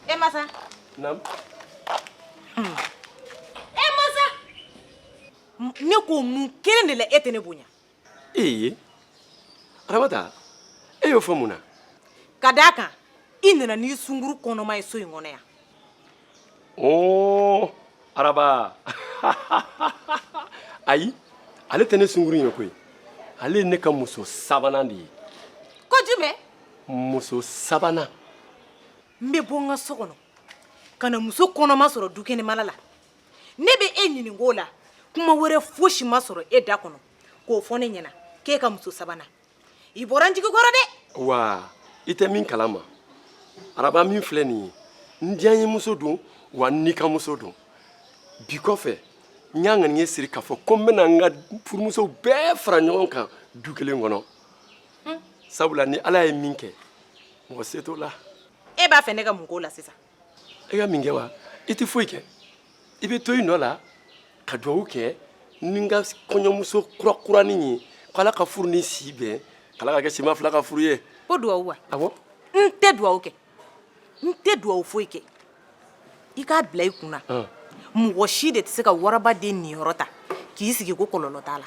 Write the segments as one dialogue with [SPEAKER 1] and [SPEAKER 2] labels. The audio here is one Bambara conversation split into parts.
[SPEAKER 1] E masa namu e masa ne ko mun kelen de la e tɛ ne bonya ee
[SPEAKER 2] aramata e y'o fɔ mun na ka d'a kan
[SPEAKER 1] i nana n'i sunguru kɔnɔma ye so in kɔnɔ yan
[SPEAKER 2] oo araba ayi ale tɛ ne sunguru ye koyi ale ye ne ka muso sabanan de ye ko jumɛn
[SPEAKER 1] muso
[SPEAKER 2] sabanan
[SPEAKER 1] n bɛ bɔ n ka so kɔnɔ ka na muso kɔnɔma sɔrɔ dukɛnɛmala la ne bɛ e ɲininka o la kuma wɛrɛ fosi ma sɔrɔ e da kɔnɔ k'o fɔ ne ɲɛna k'e ka muso sabanan i bɔra n jigi kɔrɔ dɛ wa
[SPEAKER 2] i tɛ min kalama araba min filɛ nin ye n diyanyemuso don wa n nikanmuso don bi kɔfɛ n y'a ŋaniye siri k'a fɔ ko n bɛna n ka furumusow bɛɛ fara ɲɔgɔn kan du kelen kɔnɔ sabula ni ala ye min kɛ mɔgɔ se t'o la e b'a fɛ ne
[SPEAKER 1] ka mun k'o la sisan i ka min
[SPEAKER 2] kɛ wa i tɛ foyi kɛ i bɛ to i nɔ la ka dugawu kɛ ni n ka kɔɲɔmuso kurakuranin ye k'ala ka furu ni si bɛn k'ala ka kɛ sima fila ka furu ye ko dugawu wa awɔ
[SPEAKER 1] n tɛ
[SPEAKER 2] dugawu
[SPEAKER 1] kɛ n tɛ dugawu foyi kɛ i k'a bila i kun na mɔgɔ si de tɛ se ka waraba den niyɔrɔ ta k'i sigi ko kɔlɔlɔ t'a la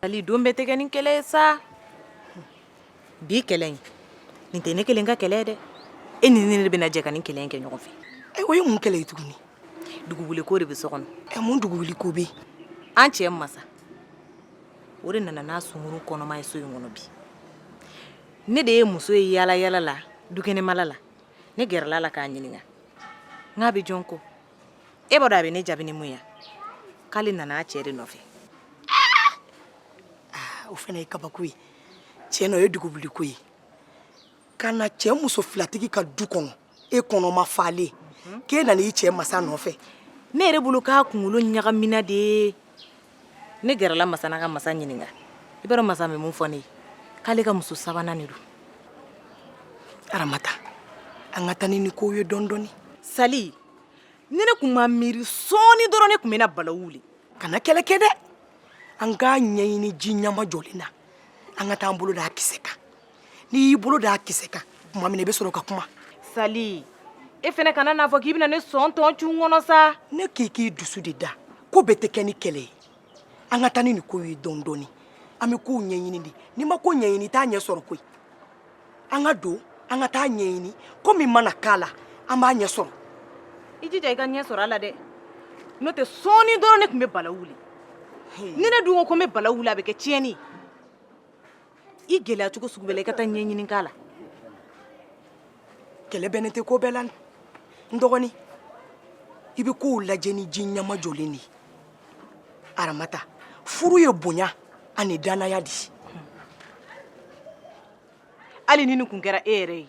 [SPEAKER 3] ali don bɛɛ tɛ kɛ
[SPEAKER 1] ni kɛlɛ ye sa bi kɛlɛ in nin tɛ ne kelen ka kɛlɛ dɛ e ni ne de bɛna jɛ ka nin kɛlɛ in kɛ ɲɔgɔn fɛ e o ye mun kɛlɛ ye tuguni
[SPEAKER 3] duguwuliko
[SPEAKER 1] de bɛ so kɔnɔ ɛ mun duguwuliko bɛ
[SPEAKER 3] yen an cɛ
[SPEAKER 1] masa o de nana n'a sunguru kɔnɔma ye so in kɔnɔ bi ne de ye muso ye yaala yaala la dukɛnɛmala la ne gɛrɛla a la k'a ɲininka n k'a bɛ jɔn kɔ e b'a dɔn a bɛ ne jaabi ni mun ye k'ale nana a cɛ de nɔfɛ
[SPEAKER 3] ah, o fana ye kabako ye tiɲɛ na o ye duguwuliko ye ka na cɛ muso filatigi ka du kɔnɔ e kɔnɔma falen k'e nana i cɛ masa nɔfɛ ne yɛrɛ bolo
[SPEAKER 1] k'a kunkolo ɲagamina de ye ne gɛrɛla masa na ka masa ɲininka i b'a dɔn masa bɛ mun fɔ ne ye k'ale ka muso sabanan de don aramata
[SPEAKER 3] an ka taa ni nin ko ye dɔɔni dɔɔni
[SPEAKER 1] sali ni ne kun ma miiri sɔɔni dɔrɔn ne kun bɛna bala wuli kana kɛlɛ kɛ
[SPEAKER 3] dɛ an k'a ɲɛɲini ji ɲamajɔlen na an ka taa an bolo da a kisɛ kan n'i y'i bolo d'a kisɛ kan tuma min na i bɛ sɔrɔ ka kuma
[SPEAKER 1] sali e fana kana n'a fɔ k'i bɛna ne sɔn tɔn cun kɔnɔ sa ne k'i k'i dusu
[SPEAKER 3] de da ko bɛɛ tɛ kɛ ni kɛlɛ ye an ka taa ni nin ko ye dɔɔni dɔɔni an bɛ kow ɲɛɲini de n'i ma ko ɲɛɲini i t'a ɲɛ sɔrɔ koyi an ka don an ka taa ɲɛɲini ko min mana k'a la an b'a ɲɛ sɔrɔ i jija
[SPEAKER 1] i ka ɲɛ sɔrɔ a la dɛ n'o tɛ sɔɔni dɔrɔn ne kun bɛ bala wuli ni ne dun ko ko n bɛ bala wuli a bɛ kɛ tiɲɛni ye i gɛlɛya cogo sugu bɛɛ la i ka taa ɲɛɲini k'a
[SPEAKER 3] la kɛlɛ bɛnnen tɛ ko bɛɛ la n dɔgɔnin i bɛ kow lajɛ ni ji ɲɛmajɔlen de ye aramata furu ye bonya ani dannaya de ye
[SPEAKER 1] hali ni nin kun kɛra e yɛrɛ ye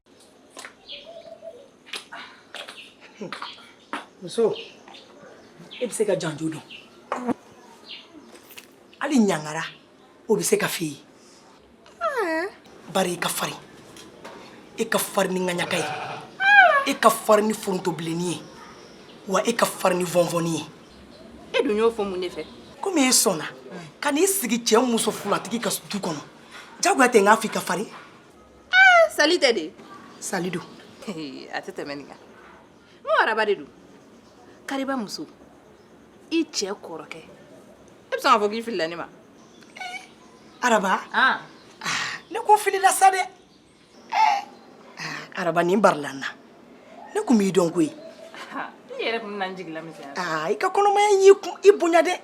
[SPEAKER 3] muso e bɛ se ka janjo dɔn hali ɲangara o bɛ se ka f'i ye bari i ka farin i ka farin ni ŋaɲaka ye i ka farin ni forontobilenni ye wa i ka farin ni vɔnvɔnni ye e dun y'o
[SPEAKER 1] fɔ mun de fɛ komi e sɔnna
[SPEAKER 3] ka n'i sigi cɛ muso fulatigi ka du kɔnɔ jagoya tɛ n k'a fɔ i ka farin Ah,
[SPEAKER 1] sali tɛ dɛ sali
[SPEAKER 3] don a tɛ
[SPEAKER 1] tɛmɛ nin kan n ko araba de don kariba muso i cɛ kɔrɔkɛ e bɛ sɔn k'a fɔ k'i filila ne
[SPEAKER 3] ma araba
[SPEAKER 1] ah, ne ko
[SPEAKER 3] filila sa dɛ Eh, ah, araba nin barila n na ne kun b'i dɔn koyi i yɛrɛ
[SPEAKER 1] kun bɛna n jigi lamisɛnya aa i ka
[SPEAKER 3] kɔnɔmaya y'i bonya dɛ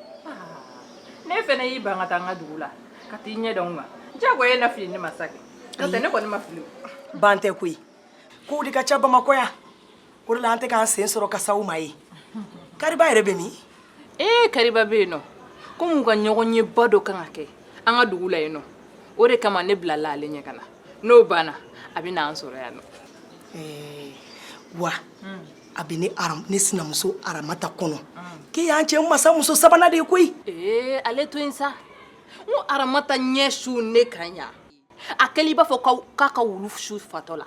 [SPEAKER 3] n'e
[SPEAKER 1] fɛnɛ y'i ban ka taa n ka dugu la ka t'i ɲɛ da n kan jagoya e na fili ne ma sa kɛ n'o tɛ ne kɔni ma fili ban tɛ
[SPEAKER 3] koyi kow de ka ca bamakɔ yan o de la an tɛ k'an sen sɔrɔ ka s'aw ma yen kariba yɛrɛ bɛ min ee
[SPEAKER 1] kariba bɛ yen nɔ komi u ka ɲɔgɔnyeba dɔ kan ka kɛ an ka dugu la yen nɔ o de kama ne bilala ale ɲɛ ka na n'o banna a bɛ n'an sɔrɔ yan nɔ ee
[SPEAKER 3] wa a bɛ ne sinamuso aramata kɔnɔ k'e y'an cɛ masa muso sabanan de ye koyi ee ale to yen
[SPEAKER 1] sa n ko aramata ɲɛ su ne kan yan a kɛlen i b'a fɔ k'a ka wulu su fatɔ la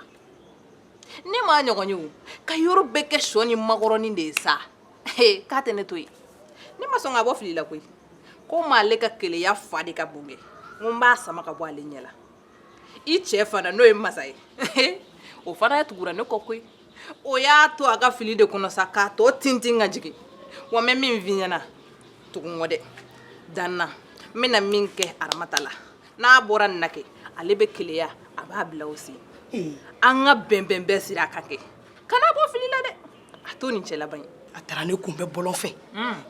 [SPEAKER 1] ne m'a ɲɔgɔn ye o ka yɔrɔ bɛɛ kɛ shɔ ni makɔrɔni de ye sa k'a tɛ ne to yen ne ma sɔn ka bɔ fili la koyi ko m'ale ka keleya fa de ka bon kɛ n ko n b'a sama ka bɔ ale ɲɛ la i cɛ fana n'o ye masa ye o fana tugura ne kɔ koyi o y'a to a ka fili de kɔnɔ sa k'a tɔ tintin ka jigin wa n bɛ min f'i ɲɛna tugun kɔ dɛ da n na n bɛna min kɛ aramata la n'a bɔra nin na kɛ ale bɛ keleya a b'a bila o sen an ka bɛnbɛn bɛɛ siri a kan kɛ kan'a bɔ fili la dɛ a to nin cɛ laban ye a taara ne kunbɛn
[SPEAKER 3] bɔlɔn fɛ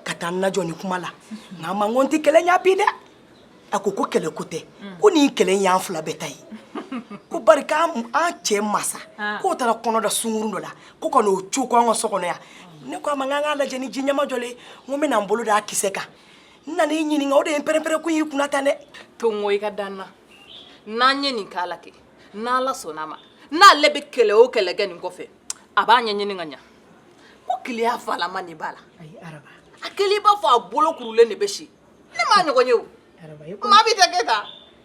[SPEAKER 3] ka taa n lajɔ nin kuma la n k'a ma n ko n tɛ kɛlɛ ɲɛ bi dɛ a ko ko kɛlɛ ko tɛ ko nin kɛlɛ in y'an fila bɛɛ ta ye ko bari k'an an cɛ masa k'o taara kɔnɔ da sungurun dɔ la ko ka n'o co ko an ka so kɔnɔ yan ne ko a ma n k'an k'a lajɛ ni ji ɲɛma jɔlen ye n ko n bɛna n bolo d'a kisɛ kan n nana i ɲininka o de ye pɛrɛnpɛrɛn kun y'i kunna tan dɛ to n ko i ka da
[SPEAKER 1] n na n'an ye nin k'a la kɛ n'ala sɔnna a ma n'ale bɛ kɛlɛ o kɛlɛ kɛ nin kɔfɛ a b'a ɲɛɲini ka ɲa ko keleya falama de b'a la
[SPEAKER 3] a kɛlen i b'a fɔ a
[SPEAKER 1] bolo kurulen de bɛ si ne m'a ɲɔgɔn ye o maa bɛɛ tɛ kɛ tan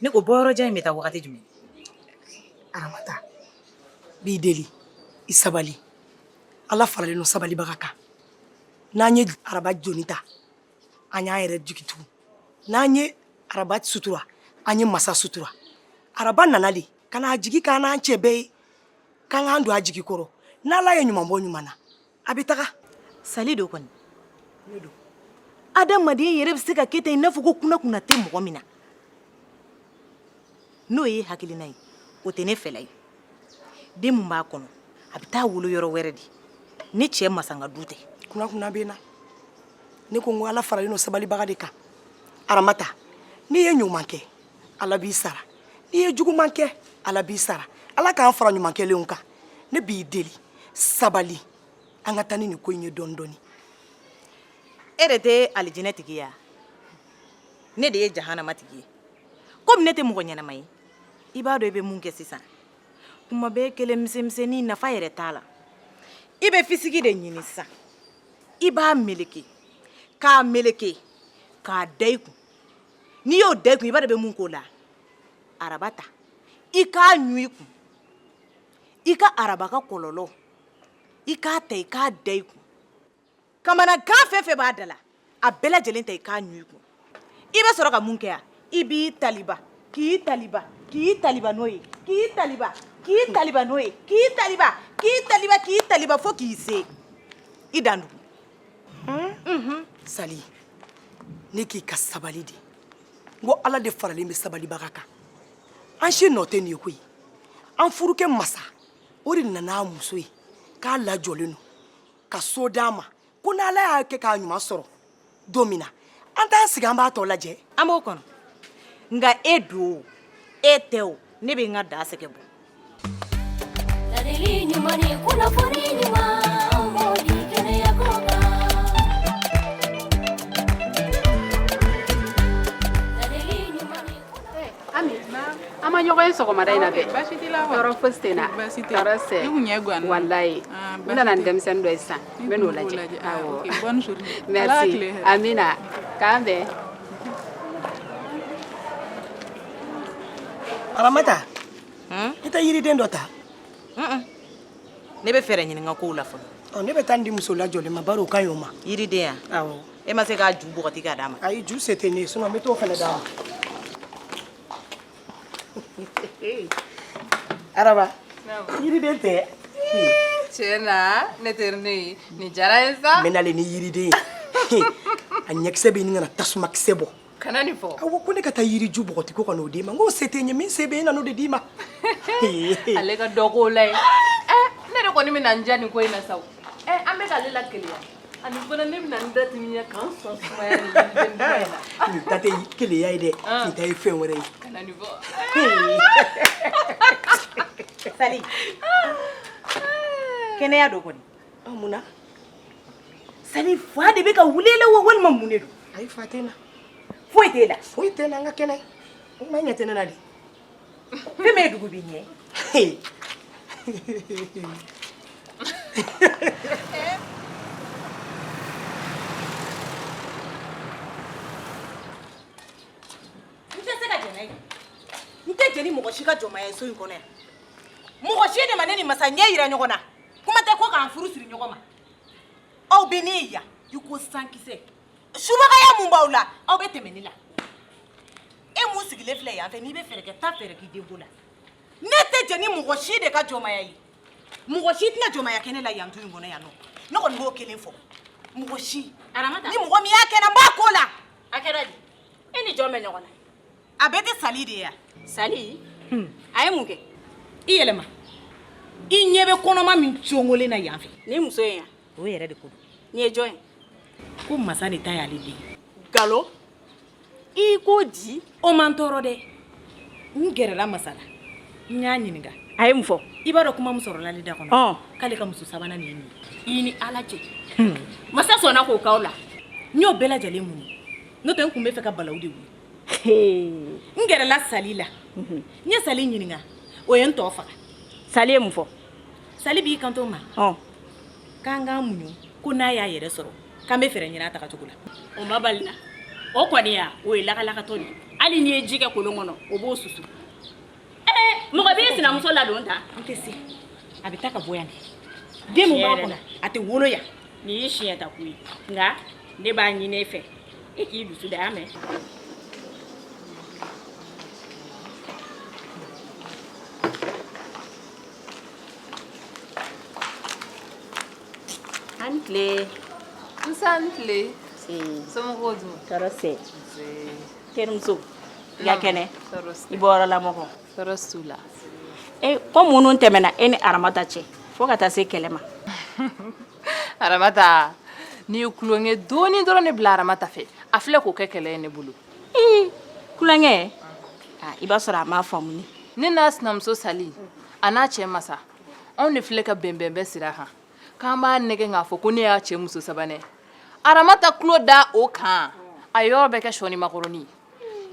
[SPEAKER 1] ne ko bɔyɔrɔjan in bɛ taa wagati
[SPEAKER 3] jumɛn aramata b'i deli i sabali ala faralen don sabalibaga kan n'an ye araba joni ta an y'an yɛrɛ jigi tugu n'an ye araba sutura an ye masa sutura araba nana de ka n'a jigi k'an n'an cɛ bɛɛ ye k'an k'an don a jigi kɔrɔ n'ala ye ɲuman bɔ ɲuman na a bɛ taga sali don
[SPEAKER 1] kɔni adamaden yɛrɛ bɛ se ka kɛ ten i n'a fɔ ko kunankunan tɛ mɔgɔ min na n'o ye hakilina ye o tɛ ne fɛla ye den min b'a kɔnɔ a bɛ taa wolo yɔrɔ wɛrɛ de ne cɛ masa ka du tɛ kunankunan bɛ n
[SPEAKER 3] na ne ko n ko ala faralen don sabalibaga de kan aramata n'i ye ɲuman kɛ ala b'i sara n'i ye juguman kɛ ala b'i sara ala k'an fara ɲuman kɛlenw kan ne b'i deli sabali an ka taa ni nin ko in ye dɔɔni
[SPEAKER 1] dɔɔni e de tɛ alijinɛ tigi ya ne de ye jahanama tigi ye komi ne tɛ mɔgɔ ɲɛnama ye i b'a dɔn i bɛ mun kɛ sisan kuma bɛɛ kelen misɛnmisɛnnin nafa yɛrɛ t'a la i bɛ fisigi de ɲini sisan i b'a meleke k'a meleke k'a da i kun n'i y'o da i kun i b'a dɔn i bɛ mun k'o la araba ta i k'a ɲun i kun i ka araba ka kɔlɔlɔ i k'a ta i k'a da i kun kamanagan fɛn o fɛn b'a da la a bɛɛ lajɛlen ta i k'a ɲun i kun i bɛ sɔrɔ ka mun kɛ yan i b'i taliba k'i taliba k'i taliba n'o ye k'i taliba k'i taliba n'o ye k'i taliba k'i taliba k'i taliba fo k'i se i dan dugu unhun
[SPEAKER 3] sali ne k'i ka sabali de n ko ala de faralen bɛ sabalibaga kan an si nɔ tɛ nin ye koyi an furukɛ masa o de nana a muso ye k'a lajɔlen don ka so d'a ma ko n'ala y'a kɛ k'a ɲuman sɔrɔ don min na an t'an sigi an b'a tɔ lajɛ an b'o kɔnɔ
[SPEAKER 1] nka e don o e tɛ o ne bɛ n ka da sɛgɛn bɔ
[SPEAKER 4] ɲɔgɔn ye sɔgɔmada in na bɛɛ tɔɔrɔ fosi tɛ n na tɔɔrɔ sɛ walayi ah, n nana ni denmisɛnnin dɔ ye sisan n bɛ n'o lajɛ awɔ merci amina k'an bɛn
[SPEAKER 3] aramata Hmm? I tɛ yiriden dɔ
[SPEAKER 1] ta ne bɛ fɛɛrɛ ɲini n ka kow la fɔlɔ oh, ne bɛ taa nin di
[SPEAKER 3] muso lajɔlen ma bari o ka ɲi o ma yiriden ya
[SPEAKER 1] e ma se k'a
[SPEAKER 3] ju
[SPEAKER 1] bɔgɔti k'a d'a ma ayi ju se tɛ ne ye sinon
[SPEAKER 3] n bɛ t'o fana d'a ma araba yiriden tɛ tiɲɛ na
[SPEAKER 5] ne teri ne ye nin diyara n ye sa ne nalen ni yiriden ye
[SPEAKER 3] a ɲɛkisɛ bɛ ɲini ka na tasumakisɛ bɔ kana nin fɔ awɔ
[SPEAKER 5] ko ne ka taa
[SPEAKER 3] yiriju bɔgɔti ko ka n'o d'i ma nk'o se tɛ n ye min se bɛ n ye n nan'o de d'i ma
[SPEAKER 5] ale ka dɔ k'o la ye ɛ ne de kɔni bɛna n diya nin ko in na sa o ɛ an bɛ k'ale lakeleya ani fana ne bɛna n da timiya ka n sɔn sumaya nin yiriden duman in na nin ta
[SPEAKER 3] tɛ keleya ye dɛ nin ta ye fɛn wɛrɛ ye kana nin
[SPEAKER 1] fɔ sali kɛnɛya don kɔni Munna sali fa de bɛ ka wuli i la wa walima mun de don ayi fa tɛ n
[SPEAKER 3] na foyi t'e
[SPEAKER 1] la foyi tɛ n na n ka
[SPEAKER 3] kɛnɛ o kuma ɲɛ tɛ ne na de
[SPEAKER 1] fɛn bɛ dugu b'i ɲɛ n tɛ jɛ ni mɔgɔ si ka jɔnmaya ye so in kɔnɔ yan mɔgɔ si de ma ne ni masa ɲɛ yira ɲɔgɔn na kuma tɛ ko k'an furu siri ɲɔgɔn ma aw bɛ ne ye yan i ko sankisɛ subagaya mun b'aw la aw bɛ tɛmɛ ne la e mun sigilen filɛ yan fɛ n'i bɛ fɛɛrɛ kɛ taa fɛɛrɛ k'i denko la ne tɛ jɛ ni mɔgɔ si de ka jɔnmaya ye mɔgɔ si tɛna jɔnmaya kɛ ne la yan du in kɔnɔ yan nɔ ne kɔni b'o kelen fɔ mɔgɔ si ni mɔgɔ min y'a
[SPEAKER 5] kɛ n na n b'a
[SPEAKER 1] k'o la a kɛra di
[SPEAKER 5] e ni jɔn bɛ ɲɔgɔn na a bɛɛ tɛ
[SPEAKER 1] sali de ya sali
[SPEAKER 5] hmm. a ye mun kɛ i
[SPEAKER 1] yɛlɛma i ɲɛ bɛ kɔnɔma min congolen na yan fɛ ni muso ye yan
[SPEAKER 5] o yɛrɛ de ko don
[SPEAKER 1] nin ye jɔn ye
[SPEAKER 5] ko masa
[SPEAKER 1] de ta y'ale den nkalon
[SPEAKER 5] i ko di o ma n tɔɔrɔ
[SPEAKER 1] dɛ n gɛrɛla masa la n y'a ɲininka a ye mun fɔ
[SPEAKER 5] i b'a dɔn kuma min
[SPEAKER 1] sɔrɔla ale da kɔnɔ k'ale ka muso sabanan nin ye nin ye i ni ala cɛ
[SPEAKER 5] hmm. masa sɔnna k'o k'aw la n y'o bɛɛ
[SPEAKER 1] lajɛlen muɲu n'o tɛ n kun bɛ fɛ ka balawu de wuli n gɛrɛla sali la n ye sali ɲininka o ye n tɔ faga sali ye mun fɔ
[SPEAKER 5] sali b'i
[SPEAKER 1] kanto n ma k'an k'an muɲu ko n'a y'a yɛrɛ sɔrɔ k'an bɛ
[SPEAKER 5] fɛɛrɛ ɲini
[SPEAKER 1] a
[SPEAKER 5] tagacogo la
[SPEAKER 1] o
[SPEAKER 5] ma bali n
[SPEAKER 1] na o
[SPEAKER 5] kɔni ya
[SPEAKER 1] o
[SPEAKER 5] ye
[SPEAKER 1] lagalagatɔ de ye
[SPEAKER 5] hali
[SPEAKER 6] n'i ye ji kɛ kolon kɔnɔ o b'o susu mɔgɔ bɛ e sinamuso ladon tan n tɛ
[SPEAKER 1] se a bɛ taa ka bɔ yan de den min b'a kɔnɔ a tɛ wolo yan nin y'i siɲɛ ta ko
[SPEAKER 6] ye nka ne b'a ɲini e fɛ e k'i dusu da y'a mɛn a ni tile nse
[SPEAKER 5] a ni tile somɔgɔw dun tɔɔrɔ si
[SPEAKER 6] terimuso i ka kɛnɛ i bɔyɔrɔ la mɔgɔw tɔɔrɔ s'u
[SPEAKER 5] la e
[SPEAKER 6] ko minnu tɛmɛna e ni aramata cɛ fo ka taa se kɛlɛ ma aramata
[SPEAKER 5] ne ye tulonkɛ dɔɔni dɔrɔn ne bila aramata fɛ a filɛ k'o kɛ kɛlɛ ye ne bolo ii
[SPEAKER 6] tulonkɛ ah, i b'a sɔrɔ a m'a faamu ne ne n'a sinamuso
[SPEAKER 5] sali a n'a cɛ masa anw de filɛ ka bɛnbɛnbɛn sira kan k'an b'a nɛgɛn k'a fɔ ko ne y'a cɛ muso sabanan ye aramata tulo da o kan a yɔrɔ bɛɛ kɛ sɔni makɔrɔni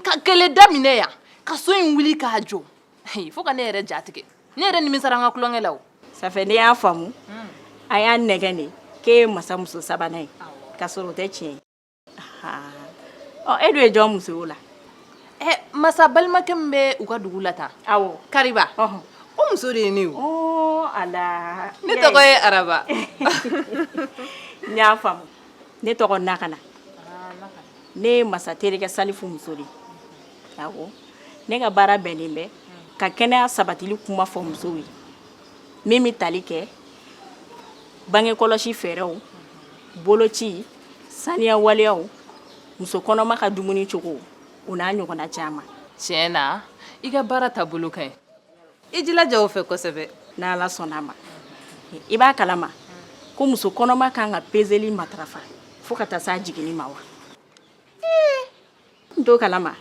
[SPEAKER 5] ka kɛlɛ daminɛ yan ka so in wuli k'a jɔ Hi, fo ka ne yɛrɛ ja tigɛ ne yɛrɛ nimisara an ka tulonkɛ la o safɛ ne y'a
[SPEAKER 6] faamu a y'a nɛgɛn de k'e ye masa muso sabanan ye k'a sɔrɔ o tɛ tiɲɛ ye ha ɔ e dun ye jɔn muso ye o la ɛ masa
[SPEAKER 5] balimakɛ min bɛ u ka dugu la tan awɔ kariba
[SPEAKER 6] ɔhɔn
[SPEAKER 5] o muso de ye ne ye o ɔɔ ala ne
[SPEAKER 6] tɔgɔ ye araba n y'a faamu ne tɔgɔ nakana ne ye masa terikɛ salifu muso de ye awɔ ne ka baara bɛnnen bɛ ka kɛnɛya sabatili kuma fɔ musow ye min bɛ tali kɛ bange kɔlɔsi fɛɛrɛw boloci Saniya waleyaw muso kɔnɔma ka dumuni cogo o n'a ɲɔgɔnna caman tiɲɛ
[SPEAKER 5] na i ka baara taabolo ka ɲi i jilaja o fɛ kosɛbɛ n'ala sɔnna a ma
[SPEAKER 6] i b'a kalama ko muso kɔnɔma ka kan ka peseli matarafa fo ka taa se a jiginni ma wa n t'o kalama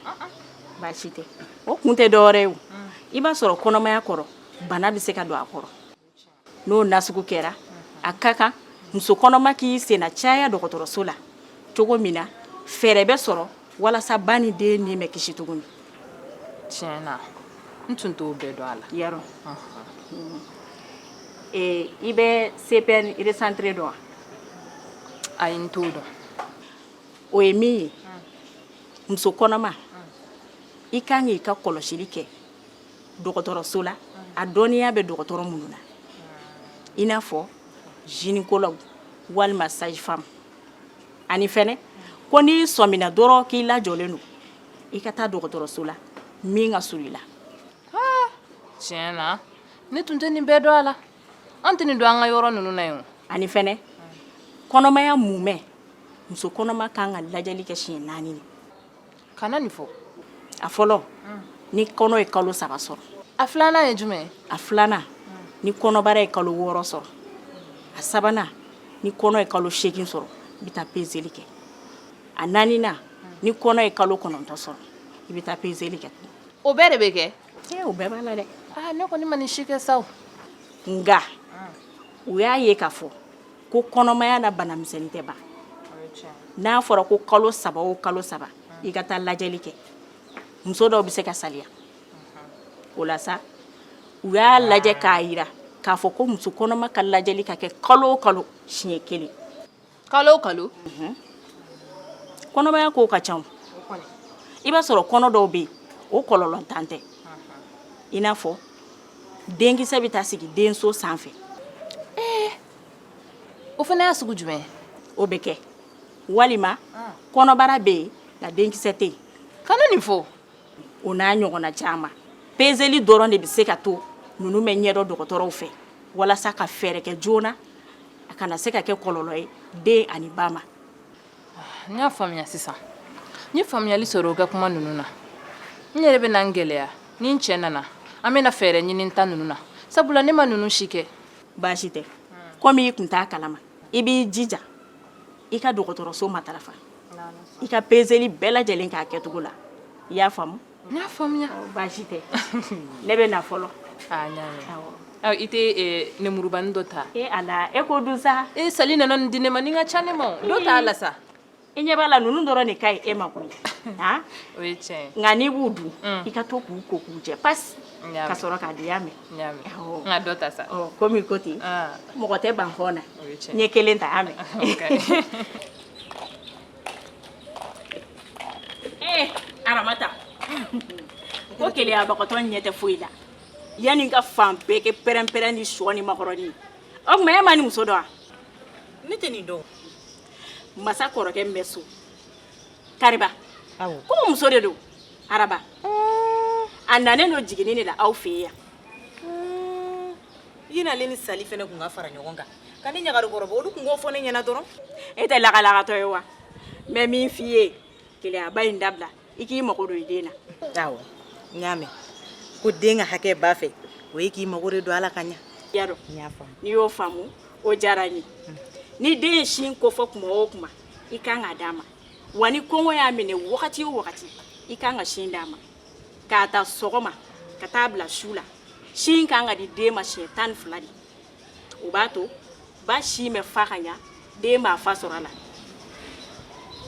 [SPEAKER 6] baasi tɛ o kun tɛ dɔwɛrɛ ye o i b'a sɔrɔ kɔnɔmaya kɔrɔ bana bɛ se ka don a kɔrɔ n'o nasugu kɛra a ka kan muso kɔnɔma k'i senna caya dɔgɔtɔrɔso la cogo min na fɛɛrɛ bɛ sɔrɔ walasa ba ni dennin bɛ kisi tuguni tiɲɛ
[SPEAKER 5] na n tun t'o bɛɛ dɔn a la yarɔ
[SPEAKER 6] ee i bɛ cpn recentrée dɔn
[SPEAKER 5] wa ayi n t'o dɔn o
[SPEAKER 6] ye min ye muso kɔnɔma i kan k'i ka kɔlɔsili kɛ dɔgɔtɔrɔso la a dɔnniya bɛ dɔgɔtɔrɔ minnu na i n'a fɔ gynécologue walima sage-femme ani fɛnɛ ko n'i sɔmina dɔrɔn k'i lajɔlen don i ka taa dɔgɔtɔrɔso la min ka surun i
[SPEAKER 5] la tiɲɛ na ne tun tɛ nin bɛɛ dɔn a la an tɛ nin dɔn an ka yɔrɔ ninnu na yen ani fɛnɛ
[SPEAKER 6] kɔnɔmaya mumɛ muso kɔnɔma kan ka lajɛli kɛ siɲɛ naani de kana
[SPEAKER 5] nin fɔ a
[SPEAKER 6] fɔlɔ ni kɔnɔ ye kalo saba sɔrɔ a filanan
[SPEAKER 5] ye jumɛn a
[SPEAKER 6] filanan ni kɔnɔbara ye kalo wɔɔrɔ sɔrɔ a sabanan ni kɔnɔ ye kalo seegin sɔrɔ i bɛ taa pezeli kɛ a naaninan ni kɔnɔ ye kalo kɔnɔntɔn sɔrɔ i bɛ taa pezeli kɛ o bɛɛ de bɛ
[SPEAKER 5] kɛ ee o bɛɛ b'a la dɛ
[SPEAKER 6] aa ne kɔni ma nin si
[SPEAKER 5] kɛ sa o nka
[SPEAKER 6] u y'a ye k'a fɔ ko kɔnɔmaya na banamisɛnnin tɛ ban n'a fɔra ko kalo saba o kalo saba i ka taa lajɛli kɛ muso dɔw bɛ se ka saliya o la sa u y'a lajɛ k'a yira k'a fɔ ko muso kɔnɔma ka lajɛli ka kɛ kalo o kalo siɲɛ kelen kalo
[SPEAKER 5] o kalo
[SPEAKER 6] kɔnɔmaya kow ka ca i b'a sɔrɔ kɔnɔ dɔw bɛ yen o kɔlɔlɔntan tɛ i n'a fɔ denkisɛ bɛ taa sigi denso sanfɛ
[SPEAKER 5] o fana y'a sugu jumɛn o bɛ
[SPEAKER 6] kɛ walima kɔnɔbara bɛ yen nka denkisɛ tɛ yen kana nin fɔ
[SPEAKER 5] o n'a
[SPEAKER 6] ɲɔgɔnna caman pezeli dɔrɔn de bɛ se ka to ninnu bɛ ɲɛdɔn dɔgɔtɔrɔw fɛ walasa ka fɛɛrɛ kɛ joona a kana se ka kɛ kɔlɔlɔ ye den ani ba ma
[SPEAKER 5] n y'a faamuya sisan n ye faamuyali sɔrɔ o ka kuma ninnu na n yɛrɛ bɛna n gɛlɛya ni n cɛ nana an bɛna fɛɛrɛ ɲini n ta ninnu na sabula ne ma ninnu si kɛ baasi
[SPEAKER 6] tɛ komi i tun t'a kalama i b'i jija i ka dɔgɔtɔrɔso matarafa i ka pezeli bɛɛ lajɛlen k'a kɛ cogo la i y'a faamu n y'a faamuya
[SPEAKER 5] baasi
[SPEAKER 6] tɛ ne bɛ na
[SPEAKER 5] fɔlɔ aa i tɛ nemurubani dɔ ta ee ala e ko dun sa
[SPEAKER 6] ee sali nana nin di ne ma
[SPEAKER 5] nin ka ca ne ma dɔ t'a la sa i ɲɛ b'a la
[SPEAKER 6] ninnu dɔrɔn de ka ɲi e ma koyi han o
[SPEAKER 5] ye tiɲɛ ye nka n'i b'u dun
[SPEAKER 6] i ka to k'u ko k'u jɛ pasi ka sɔrɔ k'a dun i y'a mɛn n y'a mɛn n
[SPEAKER 5] ka dɔ ta sa komi i ko ten
[SPEAKER 6] mɔgɔ tɛ ban hɔn na n ye kelen ta y'a mɛn ee aramata ko keleyabagatɔ ɲɛ tɛ foyi la yanni i ka fan bɛɛ kɛ pɛrɛnpɛrɛn ni sɔ ni makɔrɔni o tuma e ma nin muso dɔn wa ne tɛ nin
[SPEAKER 1] dɔn
[SPEAKER 6] masa kɔrɔkɛ min bɛ so
[SPEAKER 1] kariba ko o muso de
[SPEAKER 6] don araba a nanen don jiginni de la aw fɛ yan
[SPEAKER 1] i n'ale ni sali fana tun ka fara ɲɔgɔn kan ka ne ɲagari kɔrɔbɔ olu tun k'o fɔ ne ɲɛna dɔrɔn e tɛ lagalagatɔ
[SPEAKER 6] ye wa n bɛ min f'i ye keleyaba in dabila i k'i mago don i den na
[SPEAKER 1] awɔ n y'a mɛn ko den ka hakɛ ba fɛ o ye i k'i mago de don a la ka ɲa y'a dɔn n y'a faamu
[SPEAKER 6] n'i y'o
[SPEAKER 1] faamu
[SPEAKER 6] o diyara n ye ni den ye sin kofɔ kuma o kuma i kan ka d'a ma wa ni kɔngɔ y'a minɛ wagati o wagati i kan ka sin d'a ma k'a ta sɔgɔma ka taa bila su la sin kan ka di den ma siɲɛ tan ni fila de o b'a to ba sin bɛ fa ka ɲa den b'a fa sɔrɔ a la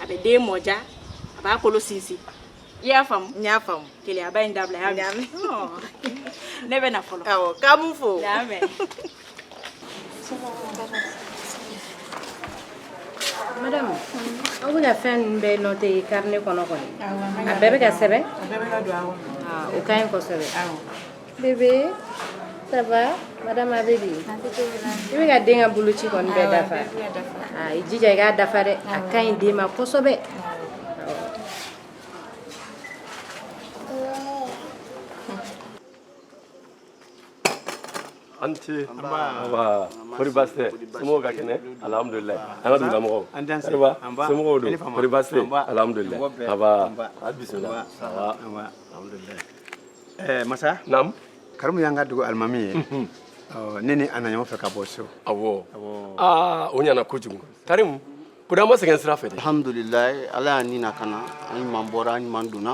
[SPEAKER 6] a bɛ den mɔdiya a b'a kolo sinsin i y'a faamu n y'a faamu keleyaba
[SPEAKER 1] in dabila y'a mɛn
[SPEAKER 6] ne bɛ na fɔlɔ awɔ k'an b'u fo
[SPEAKER 1] y'a
[SPEAKER 7] mɛn madame aw bɛ ka fɛn ninnu bɛɛ noté carnet kɔnɔ kɔni a bɛɛ bɛ ka sɛbɛn o ka ɲi kosɛbɛ bébé ça va madame a bɛ di i bɛ ka den ka boloci kɔni bɛɛ dafa ah, i jija i k'a dafa dɛ a ka ɲi den ma kosɛbɛ
[SPEAKER 2] a ni ce nba kori baasi tɛ somɔgɔw ka kɛnɛ alhamdulillah an ka dugulamɔgɔw kariba somɔgɔw dun kori baasi tɛ alhamdulillah nba a bisimila nba alhamdulillah
[SPEAKER 8] ɛɛ masa naamu karimu
[SPEAKER 2] y'an ka
[SPEAKER 8] dugu alimami ye ɔ ne ni a nana ɲɔgɔn fɛ ka bɔ so
[SPEAKER 2] awɔ aa o ɲana kojugu karimu kodi aw ma sɛgɛn sira fɛ dɛ alhamdulilayi ala
[SPEAKER 9] y'an ni nakana an ɲuman bɔra an ɲuman donna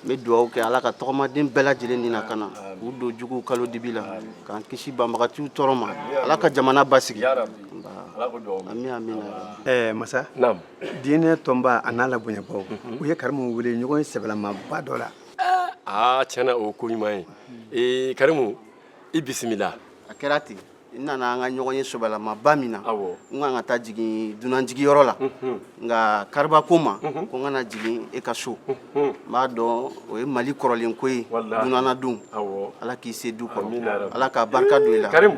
[SPEAKER 9] n bɛ dugawu kɛ ala ka tɔgɔmaden bɛɛ lajɛlen ni nakana k'u don juguw kalo dibi la k'an kisi banbagatiw tɔɔrɔ ma ala ka jamana basigi ami amina ɛɛ masa naamu
[SPEAKER 8] diinɛ tɔnba a n'a labonyabaaw u ye karimu wele ɲɔgɔnye sɛbɛlamaba dɔ la aa tiɲɛ
[SPEAKER 2] na o ye ko ɲuman ye ee karimu i bisimila a kɛra ten
[SPEAKER 9] n nana an ka ɲɔgɔnye sɛbɛlamaba min na Awɔ. n kan ka taa jigin dunanjigiyɔrɔ la nka kariba ko n ma ko n ka na jigin e ka so n b'a dɔn o ye mali kɔrɔlen ko ye Walahi. dunan nadon Awɔ. ala k'i se du Amina kɔrɔ yarabi. ala ka barika don i la karimu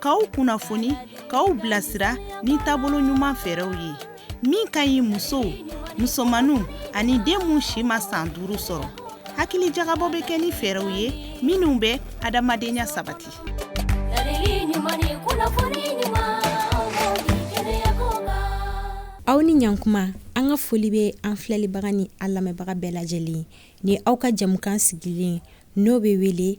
[SPEAKER 10] k'aw kunnafoni k'aw bilasira ni taabolo ɲuman fɛɛrɛw ye min ka ɲi musow musomanninw ani den minnu si ma san duuru sɔrɔ hakilijagabɔ bɛ kɛ ni fɛɛrɛw ye minnu bɛ adamadenya sabati
[SPEAKER 11] aw ni ɲankuma an ka foli bɛ an filɛlibaga ni an lamɛnbaga bɛɛ lajɛlen ni aw ka jamukan sigilen n'o bɛ wele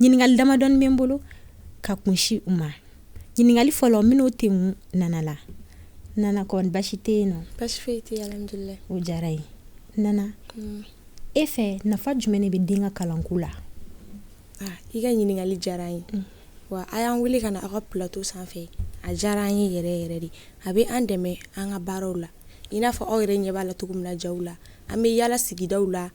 [SPEAKER 11] ɲininkali damadɔ bɛ n bolo ka kunsin u ma ɲininkali fɔlɔ n bɛn'o kɛ nana la nana basi tɛ yen o
[SPEAKER 12] diyara n ye
[SPEAKER 11] nana mm. e fɛ nafa jumɛn de bɛ den ka kalanko la
[SPEAKER 12] ah, i ka ɲininkali diyara n ye mm. wa a y'an wele ka na aw ka plateau sanfɛ a diyara an ye yɛrɛ yɛrɛ de a bɛ an dɛmɛ an ka baaraw la i n'a fɔ aw yɛrɛ ɲɛ b'a la cogo min na ja la an bɛ yalala sigidaw la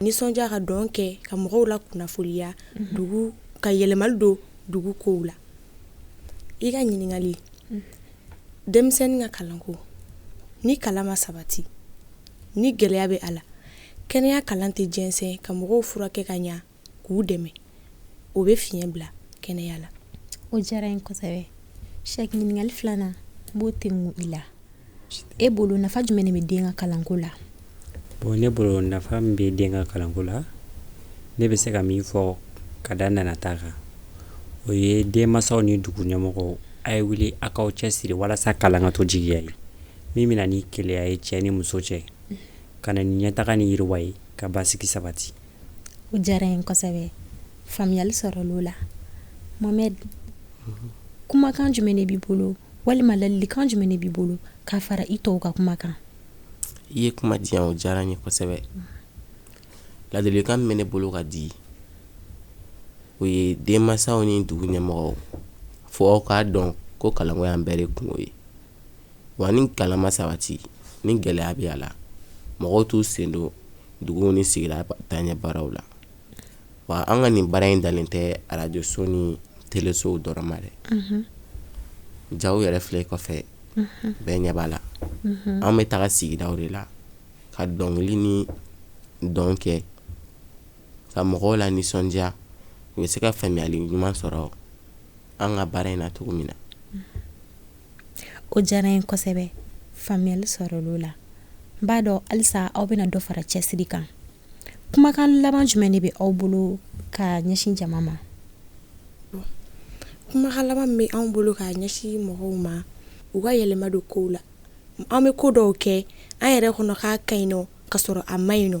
[SPEAKER 12] nisɔndiya ka dɔn kɛ ka mɔgɔw lakunnafoniya dugu ka yɛlɛmali don dugu kow la i ka ɲininkali denmisɛnnin ka kalanko ni kalan ma sabati ni gɛlɛya bɛ a la kɛnɛya kalan tɛ jɛnsɛn ka mɔgɔw furakɛ ka ɲa k'u dɛmɛ o bɛ fiɲɛ bila kɛnɛya la o diyara n ye
[SPEAKER 11] kosɛbɛ sɛki ɲininkali filanan n b'o tɛ mun i la e bolo nafa jumɛn de bɛ den ka kalanko la bon ne
[SPEAKER 13] bolo nafa min bɛ den ka kalanko la ne bɛ se ka min fɔ ka da nana ta kan o ye denmansaw ni dugu ɲɛmɔgɔw a ye wuli a k'aw cɛsiri walasa kalan ka to jigiya ye min bɛ na ni kelenya ye cɛ ni muso cɛ ka na ni ɲɛtaga ni yiriwa ye ka basigi sabati o
[SPEAKER 11] diyara n ye kosɛbɛ faamuyali sɔrɔla o la mohamɛdi kumakan jumɛn de b'i bolo walima ladilikan jumɛn de b'i bolo k'a fara i tɔw ka kuma kan i ye
[SPEAKER 14] kuma di o diyara n ye kosɛbɛ ladilikan min bɛ ne bolo ka di o ye denmansaw ni dugu ɲɛmɔgɔw fo aw k'a dɔn ko kalanko y'an bɛɛ de kunko ye wa ni kalan ma sabati ni gɛlɛya bɛ a la mɔgɔw t'u sen don dugu ni sigida taaɲɛ baaraw la wa an ka nin baara in dalen tɛ arajoso ni telesow dɔrɔn ma dɛ ja yɛrɛ filɛ kɔfɛ bɛɛ ɲɛ b'a la an bɛ taga sigidaw de la ka dɔnkili ni dɔn kɛ ka mɔgɔw lanisɔndiya u bɛ se ka faamuyali ɲuman sɔrɔ an ka baara in na cogo min na
[SPEAKER 11] o diyara n ye kosɛbɛ faamuyali sɔrɔla o la n b'a dɔn halisa aw bɛna dɔ fara cɛsiri kan kumakan laban jumɛn de bɛ aw bolo ka ɲɛsin jama ma
[SPEAKER 12] kumakan laban min bɛ anw bolo ka ɲɛsin mɔgɔw ma u ka yɛlɛma don kow la an bɛ ko dɔw kɛ an yɛrɛ kɔnɔ k'a ka ɲi nɔ ka sɔrɔ a man ɲi nɔ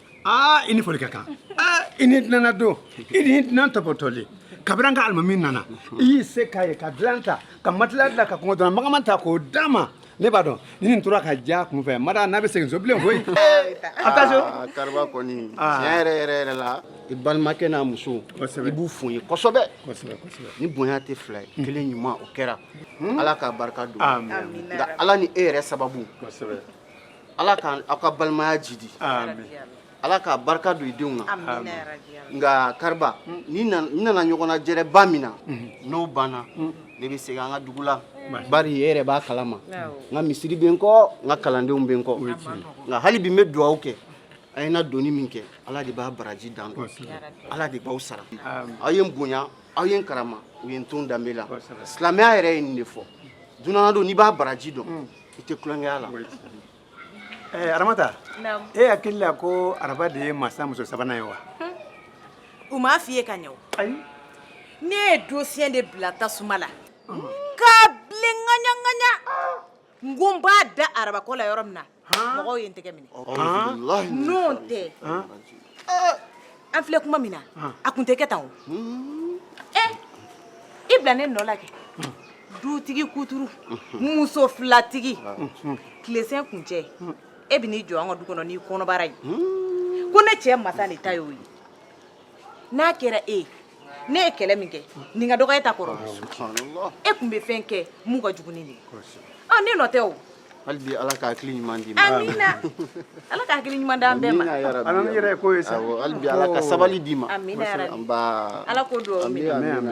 [SPEAKER 8] aa i ni foli ka kan aa i ni dunan ladon i ni dunan topotoli kabini an ka alimami nana i y'i se k'a ye ka dilan ta ka matila dilan ka kunkɔrɔdonnan magaman ta k'o d'a ma ne b'a dɔn ni nin tora ka diya kun fɛ n ma da n'a bɛ segin so bilen koyi a bɛ taa so
[SPEAKER 9] Aa, kariba kɔni Aa. tiɲɛ yɛrɛ yɛrɛ yɛrɛ la i balimakɛ n'a muso Kosɛbɛ. i b'u fo n ye kosɛbɛ kosɛbɛ kosɛbɛ ni bonya tɛ fila ye kelen ɲuman o kɛra ala k'a barika don Amen. nka ala ni e yɛrɛ sababu kosɛbɛ ala ka aw ka balimaya jidi ala ka barika don i denw na nka kariba ne nana ɲɔgɔnnajɛrɛba min na n'o banna ne bɛ segin an ka dugu la bari e yɛrɛ b'a kalama n ka misiri bɛ n kɔ n ka kalandenw bɛ n kɔ nka hali bi n bɛ dugawu kɛ a ye n ladonni min kɛ ala de b'a baraji dan dɔn ala de b'aw sara aw ye n bonya aw ye n karama u ye n to n danbe la silamɛya yɛrɛ ye nin de fɔ dunan ladon n'i b'a baraji dɔn i tɛ tulon kɛ a la
[SPEAKER 8] ɛɛ aramata e hakili la ko araba de ye masa muso sabanan ye wa
[SPEAKER 1] u m'a f'i ye ka ɲɛ o ne ye dosiyɛn de bila tasuma la k'a bilen ŋaɲaŋaɲa n ko n b'a da araba kɔ la yɔrɔ min na mɔgɔw ye n tɛgɛ minɛ n'o tɛ an filɛ kuma min na a kun tɛ kɛ tan o ɛ i bila ne nɔ la kɛ dutigi kuturu muso filatigi tilesen kuncɛ e bɛ n'i jɔ an ka du kɔnɔ n'i kɔnɔbara ye ko ne cɛ masa de ta y'o ye n'a kɛra e ye ne ye kɛlɛ min kɛ nin ka dɔgɔ e ta kɔrɔ subhanallah e kun bɛ fɛn kɛ mun ka jugu ni nin ye ne nɔ tɛ o hali bi ala ka
[SPEAKER 9] hakili ɲuman d'i ma
[SPEAKER 1] amina ala ka hakili ɲuman d'an bɛɛ ma ala ni yɛrɛ ko
[SPEAKER 8] ye sa
[SPEAKER 9] hali bi
[SPEAKER 8] ala ka
[SPEAKER 9] sabali
[SPEAKER 1] d'i
[SPEAKER 8] ma
[SPEAKER 9] amina
[SPEAKER 8] yarabi ala
[SPEAKER 1] ko
[SPEAKER 9] don
[SPEAKER 8] amina